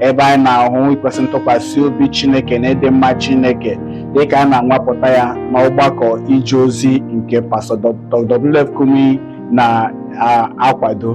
ebe anyị na-ahụ ikwesị ntụkwasị obi Chineke na ịdị mma Chineke dịka a na-anwapụta ya n'ọgbakọ ije ozi nke pastọ Dr. WF Kumuyi na-akwado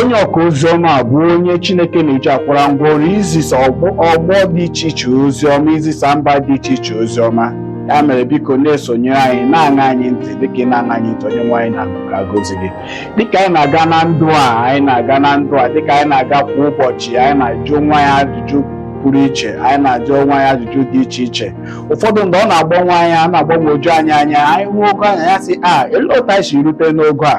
onye ọka ozi ọma bụ onye Chineke na-eji akwara ngwa ọrụ izisa ọgbọ dị iche iche ozi ọma izisa mba dị iche iche ozi ọma ya mere biko na-esonyere anyị na-aṅa anyị ntị dịka ị na-aṅa anyị ntị onyenwe anyị na-agọzi gị dịka anyị na-aga na ndụ a anyị na-aga na ndụ a dịka anyị na-aga kwa ụbọchị anyị na-ajụ onwe anyị ajụjụ pụrụ iche anyị na-ajụ onwe anyị ajụjụ dị iche iche ụfọdụ mgbe ọ na-agbanwe anya a na-agbagwoju anyị anya anyị hụ ogo anyị anyị asị elee otu anyị si rute n'ogo a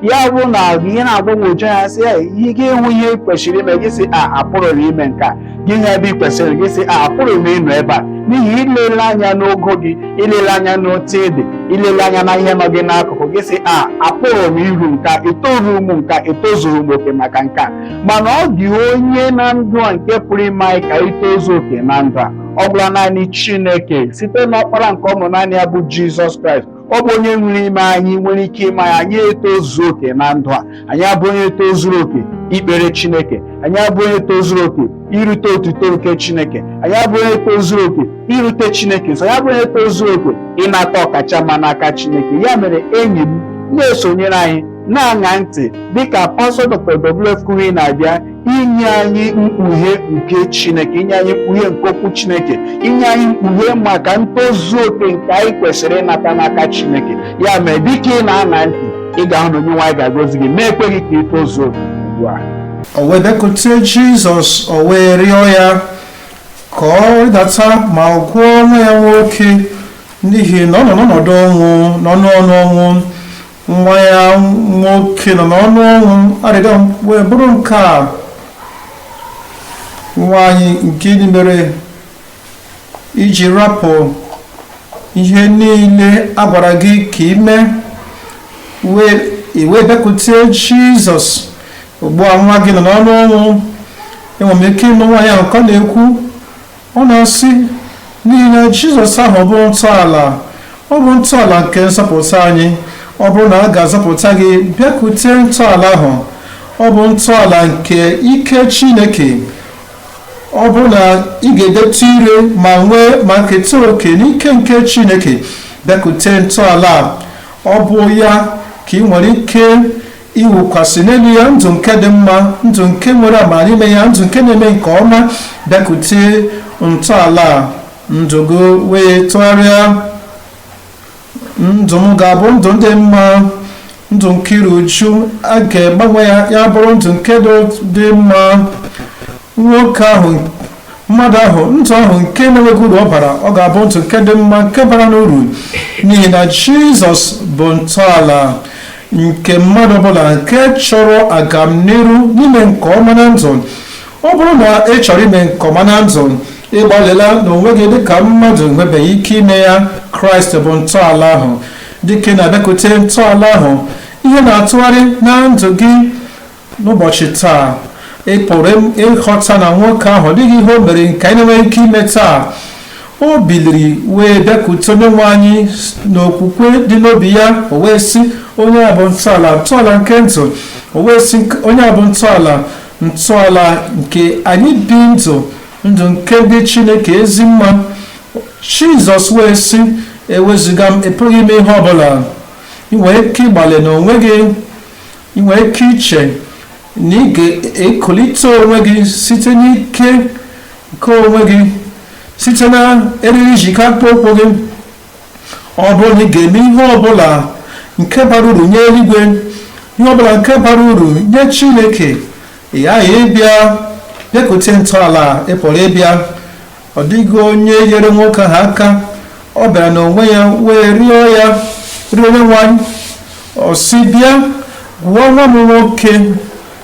ya bụrụ na ihe na-agbagwoju anya sị ya ihe gị hụ ihe ị kwesịrị ime gị sị a apụrụ m ime nke a gị hụ ebe ị kwesịrị gị sị a pụrụ m ịnọ ebe a n'ihi ilele anya n'ogo gị ilele anya n'otu ị dị ilele anya na ihe nọ gị n'akụkụ gị sị a apụrụ m iru nke a etoru m nke a etozuru m oke maka nke a mana ọ dịghị onye na ndụ a nke pụrụ ime anyị ka itozu oke na ndụ a ọ gwụla naanị chineke site n'ọkpara nke ọ mụrụ naanị ya bụ jizọs kraịst ọ bụ onye nwere ime anyị nwere ike ime anyị anyị etozu oke na ndụ a anyị abụ onye tozuru oke ikpere chineke anyị abụ onye tozuru oke irute otuto nke chineke anyị abụ onye tozuru oke irute chineke nso anyị abụ onye tozuru oke ịnata ọkacha mma n'aka chineke ya mere enyi m na-esonyere anyị na-aṅa ntị dịka pastọ dr wf kumuyi na-abịa inye anyị mkpughe nke Chineke inye anyị mkpughe nke okwu Chineke inye anyị mkpughe maka ntozu oke nke anyị kwesịrị ịnata n'aka Chineke ya mere dịka ị na-aṅa ntị ị ga-ahụ na onyenwe anyị ga-agọzi gị meekwa gị ka ị tozuo oke ugbu a o wee bịakute Jizọs o wee rịọ ya ka ọ rịdata ma ọ gwọọ nwa ya nwoke n'ihi na ọ nọ n'ọnọdụ ọnwụ n'ọnụ ọnụ ọnwụ nwa ya nwoke nọ n'ọnụ ọnwụ arịrịọ wee bụrụ nke a nwaanyị gịnị mere i ji rapụ ihe niile a gwara gị ka i mee i wee bịakwute jizọs ugbu a nwa gị nọ n'ọnụ ọnwụ enwere m ike ịnụ nwaanyị ahụ ka ọ na-ekwu Ọ na-asị, N'ihi na Jizọs ahụ bụ ntọala, ọ bụ ntọala nke nzọpụta anyị. Ọ bụrụ na a ga-azọpụta gị, bịakute ntọala ahụ. Ọ bụ ntọala nke ike Chineke. Ọ bụrụ na ị ga-edetụ ire ma nwee ma keta oke n'ike nke Chineke, bịakute ntọala a. Ọ bụ ya ka ị nwere ike iwukwasị n'elu ya ndụ nke dị mma ndụ nke nwere amara n'ime ya ndụ nke na-eme nke ọma bịakute ntọala ndụ gị wee tụgharịa ndụ m ga-abụ ndụ dị mma ndụ nke iru uju a ga-agbanwe ya ya bụrụ ndụ nke dị mma nwoke ahụ mmadụ ahụ ndụ ahụ nke na-enweghị uru ọ bara ọ ga-abụ ndụ nke dị mma nke bara n'uru n'ihi na jizọs bụ ntọala nke mmadụ ọbụla nke chọrọ agamniru na ime nke ọma na ndụ ọ bụrụ na ị chọrọ ime nke ọma na ndụ ị gbalịla na onwe gị dịka mmadụ nwebeghị ike ime ya kraịst bụ ntọala ahụ dịka ị na-abịakwute ntọala ahụ ihe na-atụgharị na ndụ gị n'ụbọchị taa ị pụrụ ịghọta na nwoke ahụ ọ dịghị ihe o mere nke anyị na-enweghị ike ime taa o biliri wee bịakwute onye nwe anyị n'okwukwe dị n'obi ya o wee sị onye a bụ ntọala ntọala nke ndụ o wee sị onye a bụ ntọala ntọala nke anyị bi ndụ ndụ nke dị chineke ezi mma jizọs wee sị ewezuga m ị pụghị ime ihe ọbụla ị nwere ike ịgbalị n'onwe gị ị nwere ike iche na ị ga-ekulite onwe gị site n'ike nke onwe gị site na eriri e ji eke akpụkpọ ụkwụ gị ọ bụrụ na ị ga-eme ihe ọbụla nke bara uru nye eluigwe ihe ọbụla nke bara uru nye chineke ị ghaghị ịbịa bịakute ntọala ị pụrụ ịbịa ọ dịghị onye nyere nwoke ahụ aka ọ bịara n'onwe ya wee rịọ ya rịọ onye nwe anyị ọ sị bịa gwọọ nwa m nwoke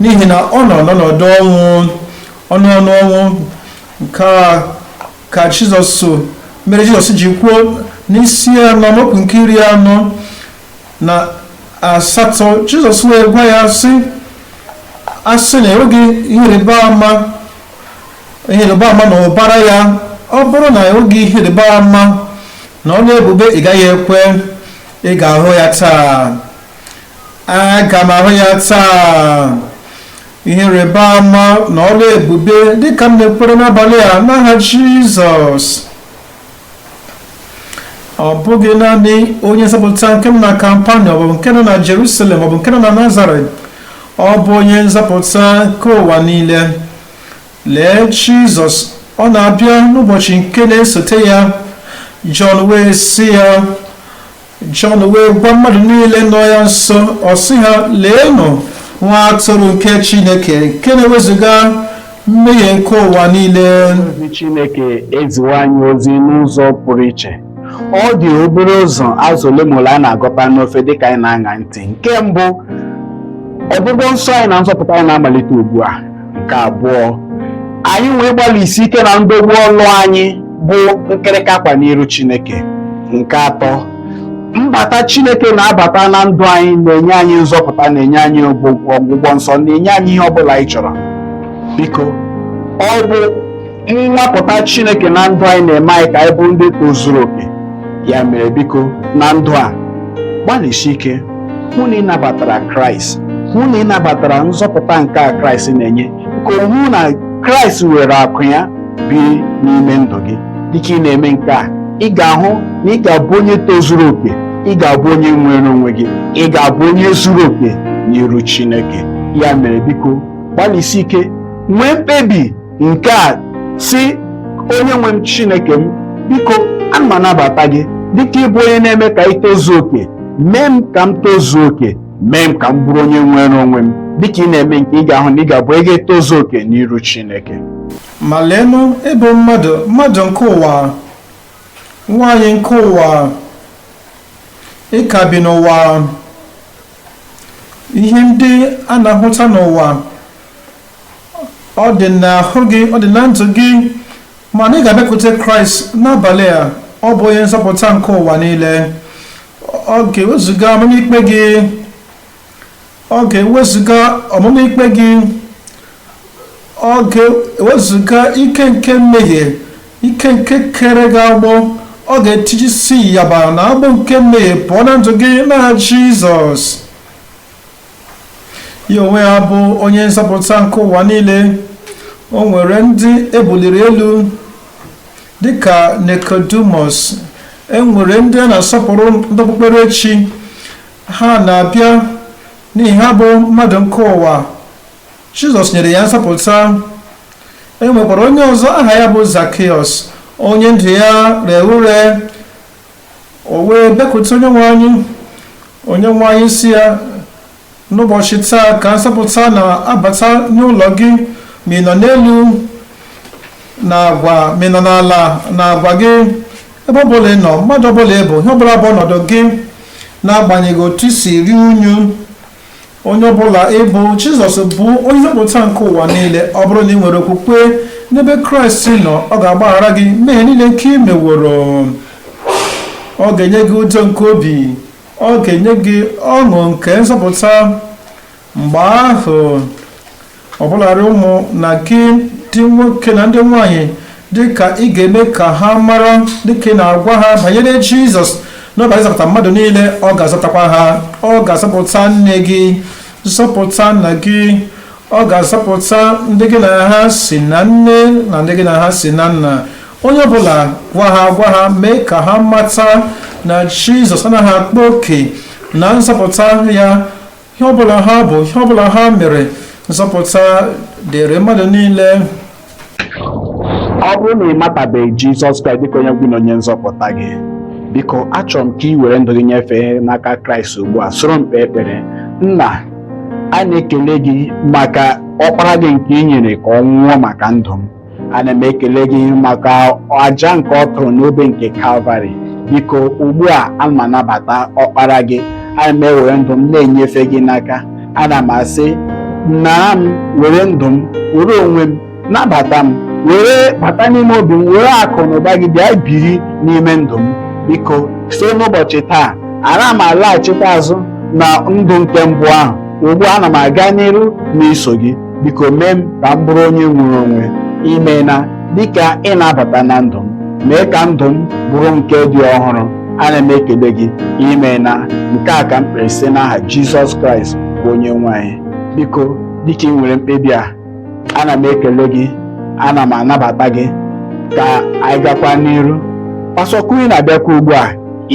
n'ihi na ọ nọ n'ọnọdụ ọnwụ ọ nọ n'ọnụ ọnwụ nke a ka jizọs mere jizọs ji kwuo n'isi anọ amaokwu nke iri anọ na asatọ jizọs wee gwa ya sị a sị na enweghị ihe ịrịba ama ihe ịrịba ama na ụbara ya ọ bụrụ na ị hụghị ihe ịrịba ama na ọrụ ebube ị gaghị ekwe ị ga-ahụ ya taa aga m ahụ ya taa ihe ịrịba ama na ọrụ ebube dịka m na-ekwere n'abalị a n'aha Jizọs ọ bụghị naanị onye nzọpụta nke nọ na kapanọm ọ bụ nke nọ na jerusalem ọ bụ nke nọ na nazaret ọ bụ onye nzọpụta nke ụwa niile lee jizọs ọ na-abịa n'ụbọchị nke na-esote ya jọn wee sị ya Jọn wee gwa mmadụ niile nọ ya nso ọ sị ha leenụ nwa atụrụ nke Chineke nke na-ewezuga mmehie nke ụwa niile ozi Chineke eziwo anyị ozi n'ụzọ pụrụ iche ọ dị obere ụzọ azụ ole ma ole anyị na-agụta n'ofe dịka anyị na-aṅa ntị nke mbụ ọgwụgwọ nsọ anyị na nzọpụta anyị na-amalite ugbu a nke abụọ anyị wee gbalịsi ike na ndọgbu ọlụ anyị bụ nkịrịka akwa n'iru Chineke nke atọ mbata Chineke na-abata na ndụ anyị na-enye anyị nzọpụta na-enye anyị ọgwụgwọ nsọ na-enye anyị ihe ọ bụla anyị chọrọ biko ọ bụ Nnwapụta Chineke na ndụ anyị na-eme anyị ka anyị bụ ndị tozuru oke. Ya mere biko na ndụ a gbalịsi ike hụ na ị nabatara Kraịst, hụ na ị nabatara nzọpụta nke a Kraịst na-enye, ka ị hụ na Kraịst were aka ya biri n'ime ndụ gị. Dịka ị na-eme nke a, ị ga-ahụ na ị ga-abụ onye tozuru oke, ị ga-abụ onye nwere onwe gị, ị ga-abụ onye zuru oke n'iru Chineke. Ya mere biko gbalịsi ike nwee mkpebi nke a sị onye nwe m chineke m biko ana m anabata gị dịka ị bụ onye na-eme ka anyị tozuo oke mee m ka m tozuo oke mee m ka m bụrụ onye nwere onwe m dịka ị na-eme nke ị ga-ahụ na ị ga-abụ ị ga-etozu oke n'iru chineke ma leenụ ị bụ mmadụ mmadụ nke ụwa nwaanyị nke ụwa ị ka bi n'ụwa ihe ndị a na-ahụta n'ụwa ọ dị n'ahụ gị ọ dị na ndụ gị mana ị ga-abịakwute kraịst n'abalị a ọ bụ onye nzọpụta nke ụwa niile ọ ga-ewezuga ọmụma ikpe gị ọ ga-ewezuga ọmụma ikpe gị ọ ga-ewezuga ike nke mmehie ike nke kere gị agbụ ọ ga-etijisi ịyagba na agbụ nke mmehie pụọ na ndụ gị na jizọs ya onwe ya bụ onye nzọpụta nke ụwa niile o nwere ndị e buliri elu dịka Nicodemus e nwere ndị a na-asọpụrụ ndị okpukperechi ha na-abịa n'ihi ha bụ mmadụ nke ụwa Jizọs nyere ya nzọpụta e nwekwara onye ọzọ aha ya bụ Zakiọs onye ndụ ya rere ure o wee bịakwute onyenwe anyị onyenwe anyị sị ya n'ụbọchị taa ka nzọpụta na-abata n'ụlọ gị ma ị nọ n'elu n'agwa ma ị nọ n'ala n'agwa gị ebe ọ bụla ị nọ mmadụ ọbụla ị bụ ihe ọbụla bụ ọnọdụ gị n'agbanyeghị otu i si ruo unyi onye ọbụla ị bụ jizọs bụ onye nzọpụta nke ụwa niile ọ bụrụ na i nwere okwukwe n'ebe kraịst nọ ọ ga-agbaghara gị mmehie niile nke i meworo ọ ga-enye gị udo nke obi ọ ga-enye gị ọṅụ nke nzọpụta mgbe ahụ ọbụlarị ụmụnna gị ndị nwoke na ndị nwanyị dịka ị ga-eme ka ha mara dịka ị na-agwa ha banyere jizọs na ọ bịara ịzọpụta mmadụ niile ọ ga-azọpụtakwa ha ọ ga-azọpụta nne gị zọpụta nna gị ọ ga-azọpụta ndị gị na ha si na nne na ndị gị na ha si na nna onye ọbụla gwa ha gwa ha mee ka ha mata na jizọs anaghị akpa oke na nzọpụta ya ihe ọbụla ha bụ ihe ọbụla ha mere nzọpụta dịrị mmadụ niile ọ bụrụ na ị matabeghị jizọs kraịst dịka onye nwe gị na onye nzọpụta gị biko achọrọ m ka i were ndụ gị nyefee n'aka kraịst ugbu a soro m kpee ekpere nna a na-ekele gị maka ọkpara gị nke i nyere ka ọ nwụọ maka ndụ m ana m ekele gị maka aja nke ọ chụrụ n'obe nke kalvarị biko ugbu a ana m anabata ọkpara gị ana m ewere ndụ m na-enyefe gị n'aka ana m asị nara m were ndụ m were onwe m nabata m were bata n'ime obi m were akụ na ụba gị bịa biri n'ime ndụ m biko si n'ụbọchị taa ana m alaghachikwa azụ na ndụ nke mbụ ahụ ugbu a ana m aga n'iru n'iso gị biko mee m ka m bụrụ onye nwere onwe imeela dịka ị na-abata na ndụ m mee ka ndụ m bụrụ nke dị ọhụrụ ana m ekele gị imeela nke a ka m kpere site n'aha Jizọs Kraịst bụ onye nwe anyị biko dịka i nwere mkpebi a ana m ekele gị ana m anabata gị ka anyị gakwa n'iru Pastọ Kumuyi na-abịakwa ugbu a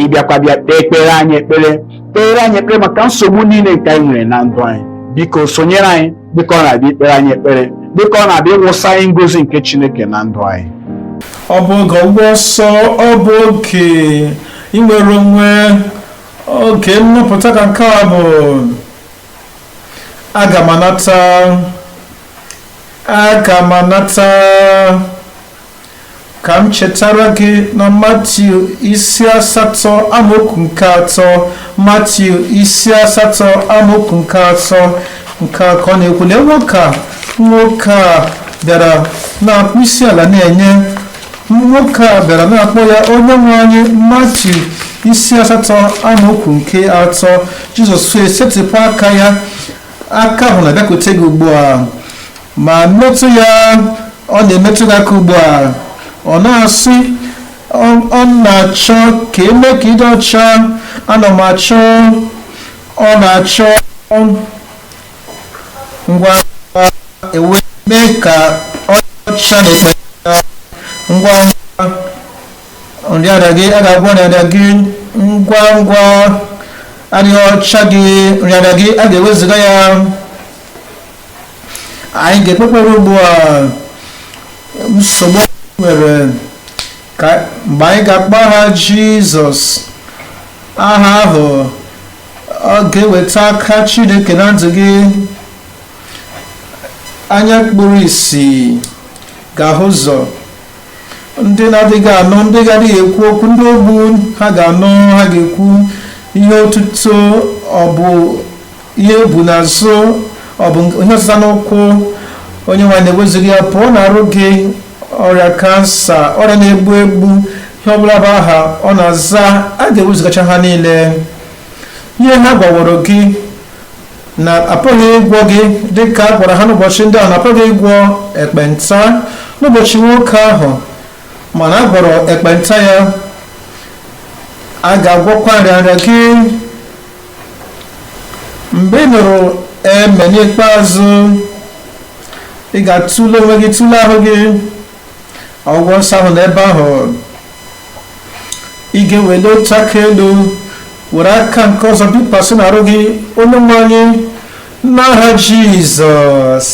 ịbịakwa bịa kpee ekpere anyị ekpere kpere anyị ekpere maka nsogbu niile nke anyị nwere na ndụ anyị biko sonyere anyị dịka ọ na-abịa ikpere anyị ekpere dịka ọ na-abịa ịwụsa anyị ngozi nke Chineke na ndụ anyị ọ bụ oge ọgbụgba ọsọ ọ bụ oge inwere onwe oge nnapụta ka nke a bụ aga m anata aga m anata ka m chetara gị na matiu isi asatọ amaokwu nke atọ matiu isi asatọ amaokwu nke atọ nke a ka ọ na-ekwu lee nwoke a nwoke a bịara na-akpọ isi ala na-enye nwoke a bịara na-akpọ ya onye nwe anyị matiu isi asatọ amaokwu nke atọ jizọs wee setịpụ aka ya aka ahụ na-abịakwute gị ugbu a ma metụ ya ọ na-emetụ gị aka ugbu a ọ na-asị ọ na-achọ ka e mee ka ị dị ọcha ana m achọ ọ na-achọ ngwa ngwa e wee mee ka ọ dị ọcha na ekpe ngwa ngwa nrịarịa gị a ga-agwọ nrịarịa gị ngwa ngwa adịghị ọcha gị nrịarịa gị a ga-ewezuga ya anyị ga-ekpe ekpere ugbu a nsogbu anyị nwere ka mgbe anyị ga-akpọ aha jizọs aha ahụ ọ ga-eweta aka chineke na ndụ gị anya kpuru isi ga-ahụ ụzọ ndị na-adịghị anụ ndị ga-adịghị ekwu okwu ndị ogbu ha ga-anụ ha ga-ekwu ihe otuto ọ bụ ihe ebu n'azụ ọ bụ ihe ọzịza n'ụkwụ onye nwe anyị na-ewezuga ya pụọ na arụ gị ọrịa kansa ọrịa na-egbu egbu ihe ọbụla bụ aha ọ na-aza a ga-ewezugacha ha niile ihe ha gwaworo gị na apụghị ịgwọ gị dịka a gwara ha n'ụbọchị ndị ahụ na apụghị ịgwọ ekpenta n'ụbọchị nwoke ahụ mana a gwọrọ ekpenta ya a ga-agwọkwa nrịanrịa gị mgbe ị nụrụ amen n'ikpeazụ ị ga-atụle onwe gị tụle ahụ gị ọgwụgwọ nsọ ahụ n'ebe ahụ ị ga-ewele otu aka elu were aka nke ọzọ bikwasị n'arụ gị onye nwe anyị n'aha jizọs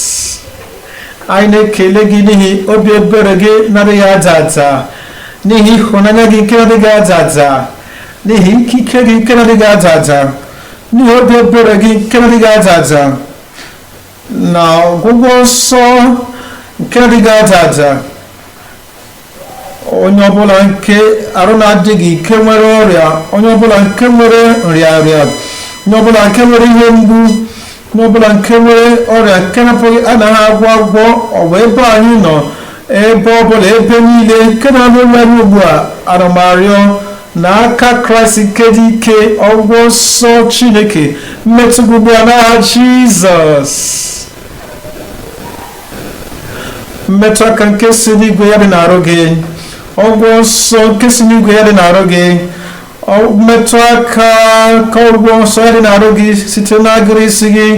anyị na-ekele gị n'ihi obi ebere gị na-adịghị ada ada n'ihi ịhụnanya gị nke na-adịghị ada ada n'ihi ikike gị nke na-adịghị ada ada n'ihi obi ebere gị nke na-adịghị ada ada na ọgwụgwọ nsọ nke na-adịghị ada ada onye ọbụla nke arụ na-adịghị ike nwere ọrịa onye ọbụla nke nwere nrịanrịa onye ọbụla nke nwere ihe mgbu onye ọbụla nke nwere ọrịa nke na-apụghị anaghị agwọ agwọ ọ bụ ebe anyị nọ ebe ọbụla ebe niile nke na-anụ olu anyị ugbu a ana m arịọ na aka kraịst nke dị ike ọgwụgwọ nsọ chineke metụ gị ugbu a n'aha jizọs mmetụ aka nke si n'igwe ya dị n'arụ gị ọgwụgwọ nsọ nke si n'igwe ya dị n'arụ gị metụ aka ka ọgwụgwọ nsọ ya dị n'arụ gị site n'agịrị isi gị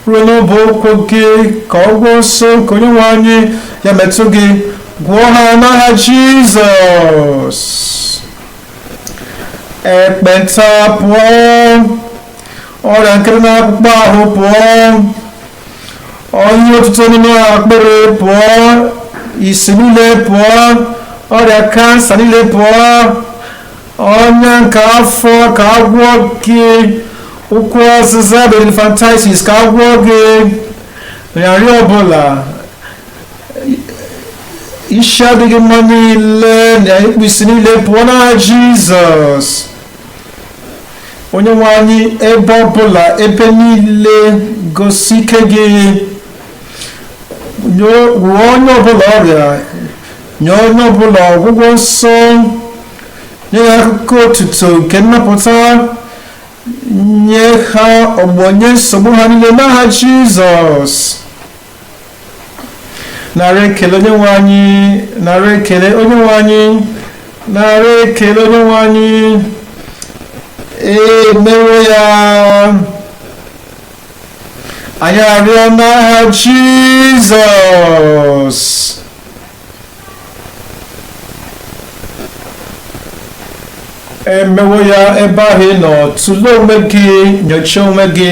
ruo n'ọbụ ụkwụ gị ka ọgwụgwọ nsọ nke onye nwe anyị ya metụ gị gwọọ ha n'aha jizọs ekpenta pụọ ọrịa nke dị n'akpụkpọ ahụ pụọ ọnya otuto n'ime akpịrị pụọ isi niile pụọ ọrịa kansa niile pụọ ọnya nke afọ ka agwọ gị ụkwụ ọzịza bụ elephantiasis ka agwọ gị nrịanrịa ọbụla isi adịghị mma niile na ikpu isi niile pụọ n'aha jizọs onye nwe anyị ebe ọbụla ebe niile gosi ike gị nye- gwọọ onye ọbụla ọrịa nye onye ọbụla ọgwụgwọ nsọ nye ha akụkọ otuto nke nnapụta nye ha ọgbọ nye nsogbu ha niile n'aha jizọs nara ekele onye nwe anyị nara ekele onye nwe anyị nara ekele onye nwe anyị emewo ya anyị arịọ n'aha jizọs emewo ya ebe ahụ ị nọ tụlee onwe gị nyochaa onwe gị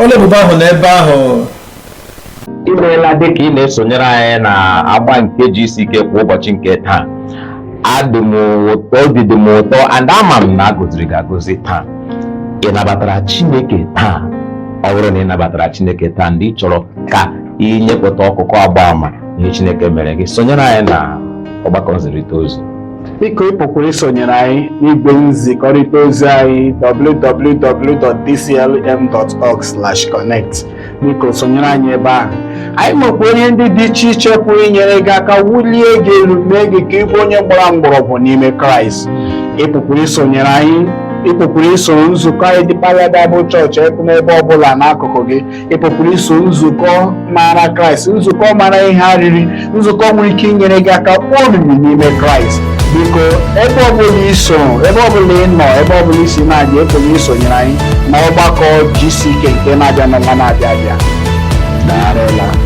ọlụ ebube ahụ nọ ebe ahụ imeela dịka ị na-esonyere anyị na agba nke GCK kwa ụbọchị nke taa obi dị m ụtọ and ama m na agọziri gị agọzi taa ị nabatara chineke taa ọ bụrụ na ị nabatara chineke taa and ị chọrọ ka ị nyepụta akụkọ agba ama ihe Chineke mere gị sonyere anyị na ọgbakọ nzirịta ozi biko ị pụkwara isonyere anyị n'igwe nzikọrịta ozi anyị www.dclm.org/connect biko sonyere anyị ebe ahụ anyị nwekwa onye ndị dị iche iche pụrụ inyere gị aka wulie gị elu mee gị ka ịbụ onye gbara mgbọrọgwụ n'ime kraịst ị pụkwara isonyere anyị ị pụkwara isoro nzukọ anyị Deeper Life Bible Church n'ebe ọ bụla n'akụkụ gị ị pụkwara iso nzukọ maara kraịst nzukọ mara ihe arịrị nzukọ nwere ike inyere gị aka kpọọ omimi n'ime kraịst biko ebe ọbụla iso ebe ọbụla ị nọ ebe ọbụla isi na-abịa ị pụkwara isonyere anyị na ọgbakọ GCK nke na-abịa n'ọnwa na-abịa abịa daalụ